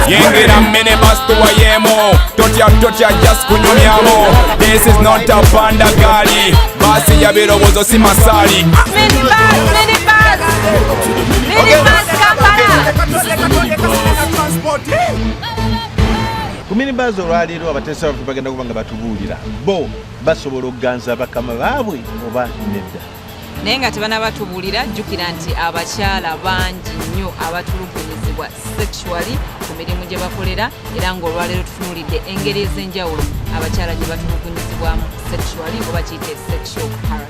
yingira minibus tuwayemu totya totya just kunyumyamu this is not a panda gali basi ya birowoozo si masali ku minibus olwaleero abateesa baffe bagenda kuba nga batubuulira bo basobola okuganza bakama baabwe oba nedda naye nga tebanabatubuulira jjukira nti abakyala bangi nnyo abatulugunyizibwa sexually ku mirimu gye bakolera era ng'olwaleero tutunulidde engeri ez'enjawulo abakyala gye batulugunyizibwamu sexually oba kiyite sexual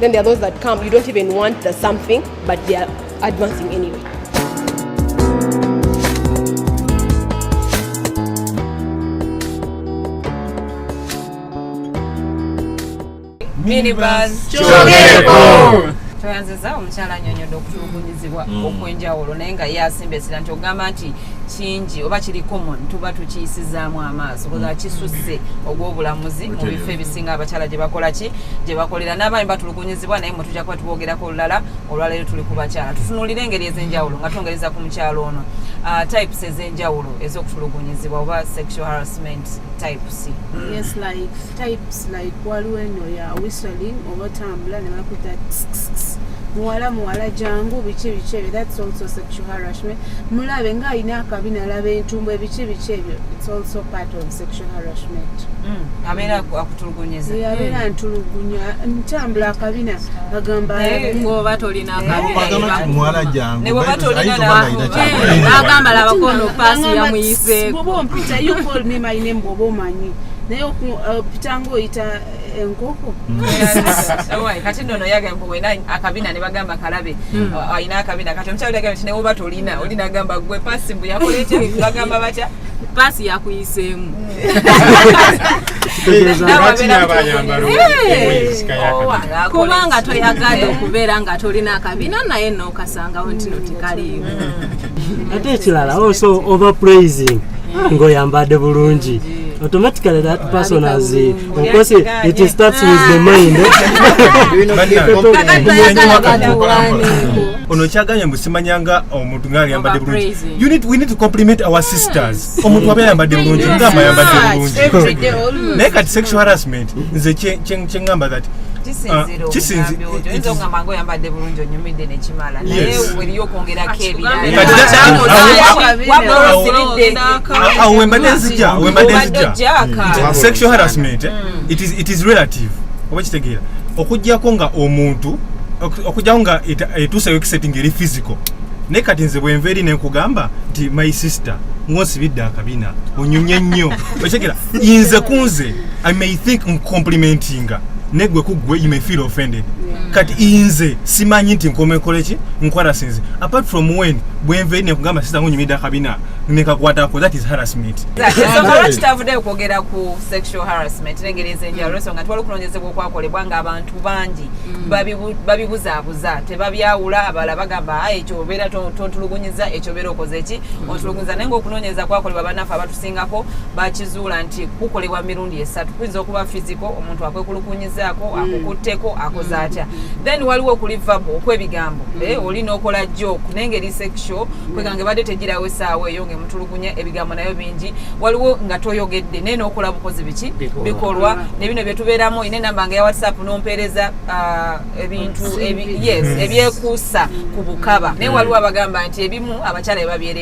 Then there are those that come, you don't even want the something, but they are advancing anyway. Minibus Chogeko! tweyanziza omukyala anyonyodde okutulugunyizibwa mm. okwenjawulo naye nga ye asimba esira nti ogamba nti kingi oba kiri common tuba tukiyisizaamu amaaso koza mm. kisusse ogw'obulamuzi mu bifo ebisinga abakyala gye bakola ki gye bakolera n'abaami batulugunyizibwa naye mwe tujja kuba tuboogerako olulala olwaleero tuli ku bakyala tutunuulira engeri ez'enjawulo nga twongereza ku mukyalo ono uh, types ez'enjawulo ez'okutulugunyizibwa oba sexual harassment types yes like types like waliwo eno ya whistling oba otambula ne bakuta muwala muwala jangu biki biki ebyo that's also sexual harassment harassment mulabe nga alina akabi nalaba entumbu ebiki biki ebyo its also part of sexual harassment mm. abeera akutulugunyeza abeera mm. ntulugunya ntambula akabina agamba ngoba tolina akabinaagamba labakono pasi yamuyiseeoba ompita yo call me my name bwoba omanyi naye okupitanga uh, oyita enkoko mm. kati nono yagamba mbu wena akabina ne bagamba kalabe mm. alina akabina kati omukyalo yagamba nti newoba tolina oli nagamba gwe pasi mbu yakola ekyo bagamba batya pasi yakuyiseemu kubanga toyagala okubeera nga tolina akabina naye nokasangawo ntino tekaliimu mm. ate ekirala also over praising ng'oyambadde bulungi automatically that person has uh, of course it, it starts with the mind ono kyagambye mbu simanyanga omuntu nga ayambadde bulungi you need we need to compliment our sisters omuntu aba ayambadde bulungi ngamba ayambadde bulungi naye kati sexual harassment nze kye ngamba that uh, okwogera obuyambi oyo oyinza okugamba nga oyambadde bulungi onyumidde nekimala naye eriyo okwongerako ebiralawembadde nzija wembadde nzija sexual harassment eh? mm. it is relative oba kitegeera okujjako nga omuntu okujjako nga etuusayo ekiseti nga eri physical naye kati nze bwenva eri nenkugamba nti my sister ngonsibidde akabina onyumye nnyo okitegera inze kunze i may think ncomplimenti kukusinga negwe kugwe you may feel offended yeah. kati inze simanyi nti nkomekola ki nkwarasinze apart from when bwenve nekugamba sisa ngo nyimida kabina nekakwatako that is harassment so kala kitavudeyo kwogera ku sexual harassment nengeri ezenjawulo so nga twali okunonyezebwa okwakolebwa nga abantu bangi mm. babibuzaabuza tebabyawula abala bagamba ah, ekyo obeera tontulugunyiza ekyo obeera okoze ki mm. ontulugunyiza naye nga okunonyereza kwakolebwa banafe abatusingako bakizuula nti kukolebwa mirundi emirundi esatu kuyinza okuba fiziko omuntu akwekulukunyizaako mm. akukutteko akoze mm. atya then waliwo okuli vabo okwebigambo mm. eh, oli nokola jok naye ngeri sexual kweganga ebadde tegirawo esaawa eyo ngaemutulugunya ebigambo nayo bingi waliwo nga toyogedde naye nokola bukozi biki bikolwa nebino byetubeeramu ina enamba nga ya whatsapp nompeereza ah, ebintu yes ebyekuusa ku bukaba naye waliwo abagamba nti ebimu abakyala ebabyere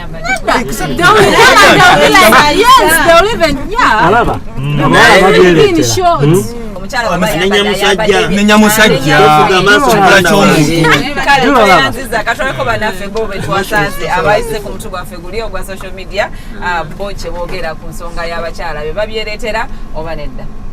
nenya musajja nenya musajja kibula ky'omuntu katwaleko banaffe bo betwasanze abayise ku mutu gwaffe guli ogwa social media bo kyebogera ku nsonga y'abakyala be babyeretera oba nedda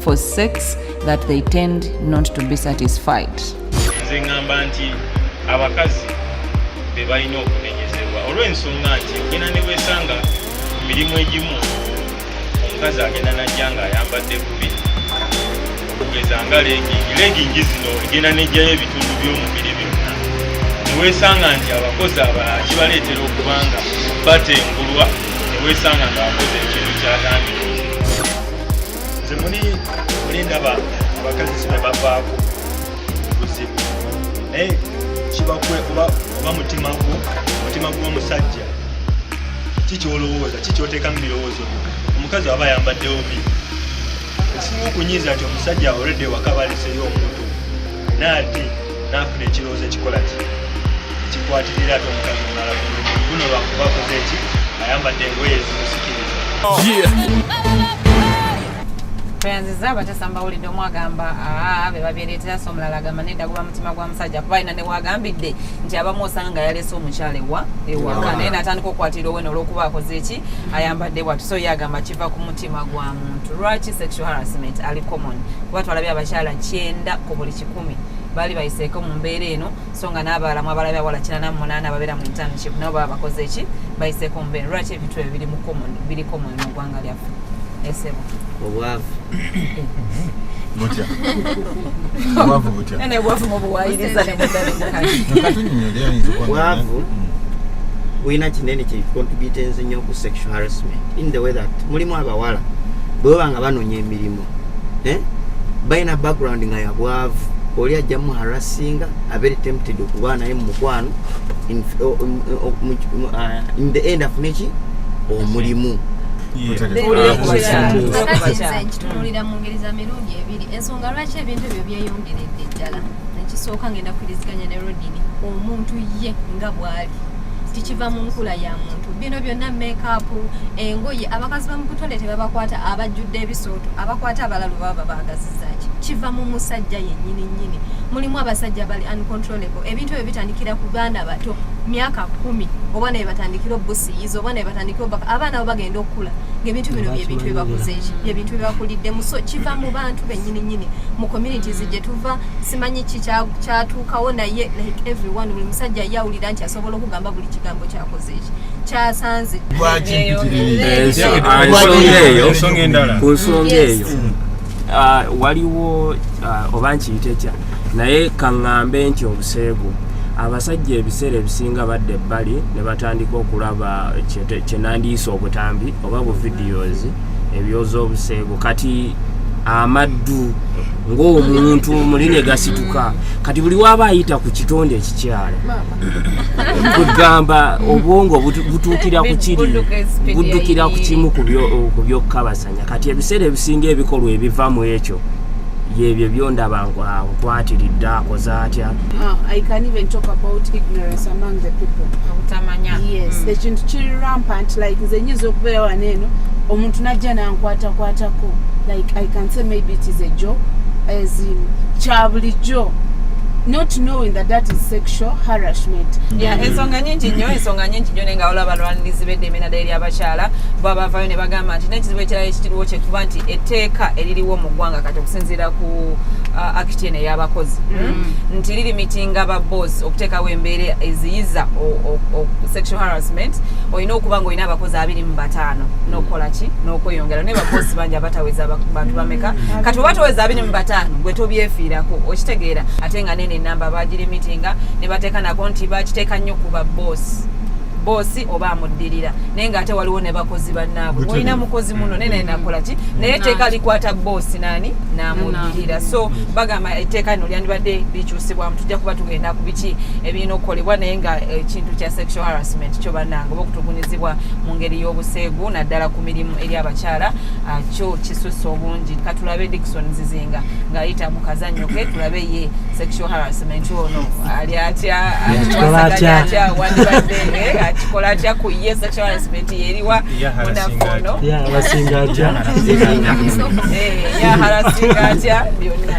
for sex that they tend not to be satisfied. Nze ngamba nti abakazi be balina okunenyezebwa olw'ensonga nti ogenda ne weesanga ku mirimu egimu omukazi agenda najja ng'ayambadde bubi okugeza nga legingi legingi zino egenda nejjayo ebitundu by'omubiri byonna ne weesanga nti abakozi abalala kibaleetera okubanga batengulwa ne weesanga ng'abakozi ekintu kyatandika nze muli muli ndaba abakazi kino bavaako buzibu naye kibakwe oba oba mutima gwo mutima gw'omusajja kikyolowooza kikyoteeka mu birowoozo byo omukazi aba ayambaddewo bi ekisinga okunyiiza nti omusajja olwedde waka baleseyo omuntu naye ate nafuna ekirowoozo ekikola ki ekikwatirira ate omukazi omulala guno lwakuba akoze ki ayambadde engoye ezimusikiriza tweyanziza abatesa mbawulidde omu agamba ah, be babireetera so omulala agamba nedda guba mutima gwa musajja kuba alina newagambidde nti abamu osanga nga yaleese omukyala ewa ewaka naye natandika okukwatira owena olwokuba akoze eki ayambadde bwatu so ye agamba kiva ku mutima gwa muntu lwaki sexual harassment ali common kuba twalabye abakyala kyenda ku buli kiku kumi baali bayiseeko mu mbeera eno so nga n'abaala mu abalabi awala kinana mu munaana ababeera mu internship nabo baba bakoze eki bayiseeko mu mbeera lwaki ebintu ebyo biri mu common biri common mu ggwanga lyaffe esebo obwavu butya obwavu butya nene obwavu mu buwayiriza ne mudalekatunyonyole ayinza obwavu bulina kinene kye contributenze nnyo ku sexual harassment in the way that mulimu abawala bwebaba nga banonya emirimu eh? balina background nga yabwavu oli ajja muharasinga abere tempted okuba naye mumukwano in the end afune ki omulimu nkitunulira mu ngeri za mirundi ebiri ensonga lwaki ebintu ebyo byeyongeredde ddala nekisooka ngenda kukiriziganya ne rodini omuntu ye nga bwali tikiva mu nkula ya muntu bino byonna mekaapu engoye abakazi bamukutone tebabakwata abajjudde ebisooto abakwata abalalu baba babaagazizaki kiva mu musajja yennyini nnyini mulimu abasajja bali uncontrollable ebintu ebyo bitandikira ku baana bato myaka kumi oba naye batandikira obusiyiza oba naye batandikira obubaka abaana bo bagenda okukula ngaebintu bino byebintu byebakuzeeki byebintu byebakuliddemu so kiva mu bantu bennyini nnyini mu communities gye tuva simanyi ki kyatuukawo naye like everyone buli musajja ye awulira nti asobola okugamba buli kigambo kyakoze eki kyasanze ku nsonga eyo ah, waliwo ah, oba nkiyite kya naye kaŋŋambe nti obuseegu abasajja ebiseera ebisinga badda ebbali ne batandika okulaba kyenandiyisa obutambi oba bu videos ebyoza obuseegu kati amaddu ng'omuntu muli ne gasituka kati buli waaba ayita ku kitonde ekikyala kugamba obwongo butuukira ku kiri buddukira ku kimu ku byokukabasanya kati ebiseera ebisinga ebikolwa ebiva mu ekyo yebyo byondaba nkwatiridde akoze atya Uh, I can even talk about ignorance among the people. Obutamanya. Yes. Mm. Ekintu kiri rampant like nze nyinza okubeera wano eno omuntu najja nankwatakwatako like I can say maybe it is a joke as in kya bulijjo not knowing that that is sexual harassment yeah mm. ensonga nyingi nnyo ensonga nyingi nnyo nenga olaba abalwanirizi b'eddembe naddala eri abakyala bwabavayo ne bagamba nti n'ekizibu ekirala ekikiriwo kyekuba nti etteeka eririwo mu ggwanga kati okusinziira ku uh, akiti eno eyabakozi mm. nti lirimitinga ba boss okuteekawo embeera eziyiza sexual harassment olina okuba nga olina abakozi abiri mu bataano nokukola ki nokweyongera naye babosi bangi abataweza bantu bameka mm. kati oba toweza abiri mu bataano gwe tobyefiirako okitegeera ate nga nene enamba bagirimitinga ne bateeka nako nti bakiteeka nnyo ku ba boss boosi oba amuddirira naye nga ate waliwo ne bakozi bannaabwe olina mukozi muno naye naye nakola ki naye etteeka likwata boosi naani n'amuddirira so bagamba etteeka lino lyandibadde likyusibwamu tujja kuba tugenda ku biki ebirina okukolebwa naye nga ekintu kya sexual harassment kyo bannange oba okutugunyizibwa mu ngeri y'obuseegu naddala ku mirimu eri abakyala ah, kyo kisusa obungi katulabe dikson zizinga ng'ayita mu kazannyo ke tulabe ye sexual harassment ono ali atya akikola atya wandibadde eh, akikola atya ku ye sexual harassment yeriwa munafono yasinga atya yaharasinga eh, atya byonna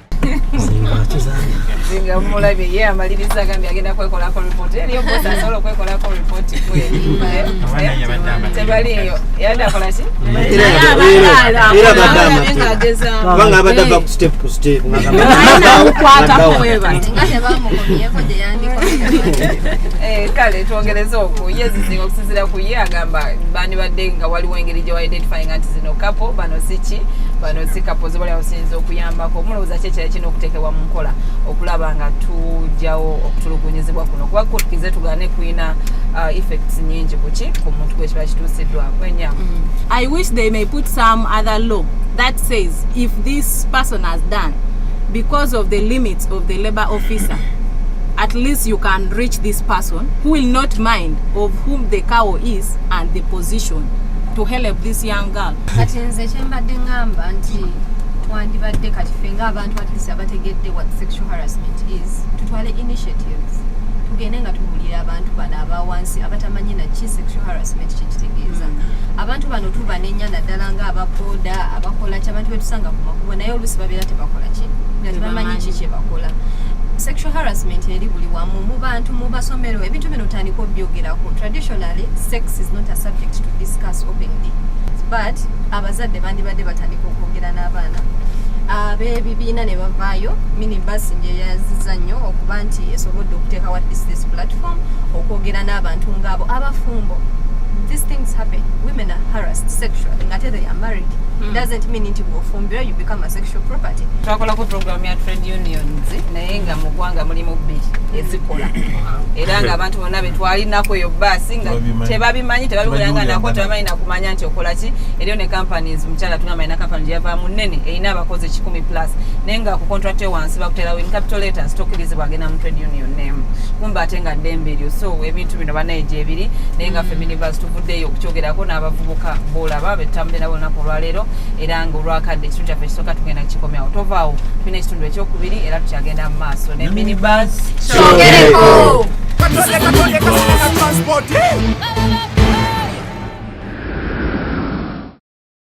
zinga mulabye ye amaliriza agambye agenda kwekolako ripoti eriyo eh, bosi asobola okwekolako ripoti kwetebaliyo yadde akola ki kubanga abadde ava ku step ku step eh, kale twongereze oku ye zizinga okusinzira ku ye agamba bandibadde nga waliwo engeri gye wa identifyinga nti zino kapo bano siki bano si kapo abakulembeze bali abasinza okuyambako mulowooza ki ekirala kirina okuteekebwa mu nkola okulaba nga tujjawo okutulugunyizibwa kuno kuba kutukize tugane kulina uh, effects nyingi kuki ku muntu gwekiba kituusiddwako enya mm. i wish they may put some other law that says if this person has done because of the limits of the labor officer at least you can reach this person who will not mind of whom the cow is and the position to help this young girl kati nze kyembadde ngamba nti twandibadde kati fe ngaabantu atlis abategedde what sexual harassment is tutwale initiatives tugende nga tubuulira abantu bano abawansi abatamanyi naki sexual harassment kyekitegeeza mm. abantu bano tubanenya naddala nga ababoda abakola ki abantu betusanga ku makubo naye oluusi babeera tebakola ki nga tebamanyi ki kyebakola sexual harassment eri buli wamu mu bantu mu basomero ebintu bino tandika obyogerako traditionally sex is not a subject to discuss openly but abazadde bandibadde batandika okwogera n'abaana abebibiina ne bavaayo minibus nje yaziza nnyo okuba nti esobodde okuteeka wa this platform okwogera n'abantu ngaabo abafumbo these things happen women are harassed sexually ngate they are married hmm. doesn't mean nti bwofumbira you become a sexual property twakolako program ya trade unions naye nga mu ggwanga mulimu bbiri ezikola era nga abantu byonna bye twalinako eyo baasi nga tebabimanyi tebabikulanga nako tebamanyi nakumanya nti okola ki eriyo ne companies mukyala tugamba alina company gye yavaamu nnene erina abakozi ekikumi plus naye nga ku contract yo wansi bakuterawo in capital letters tokirizibwa agenda mu trade union name kumba ate nga ddembe eryo so ebintu bino banaye gyebiri naye nga mm. feminivers tuvuddeyo okukyogerako n'abavubuka boolaba betutambulira bonaku olwaleero era nga olwakadde ekitundu kyaffe ekisooka tugenda kukikomyawo tovaawo tulina ekitundu ekyokubiri era tukyagenda mu maaso ne minibus kyogereko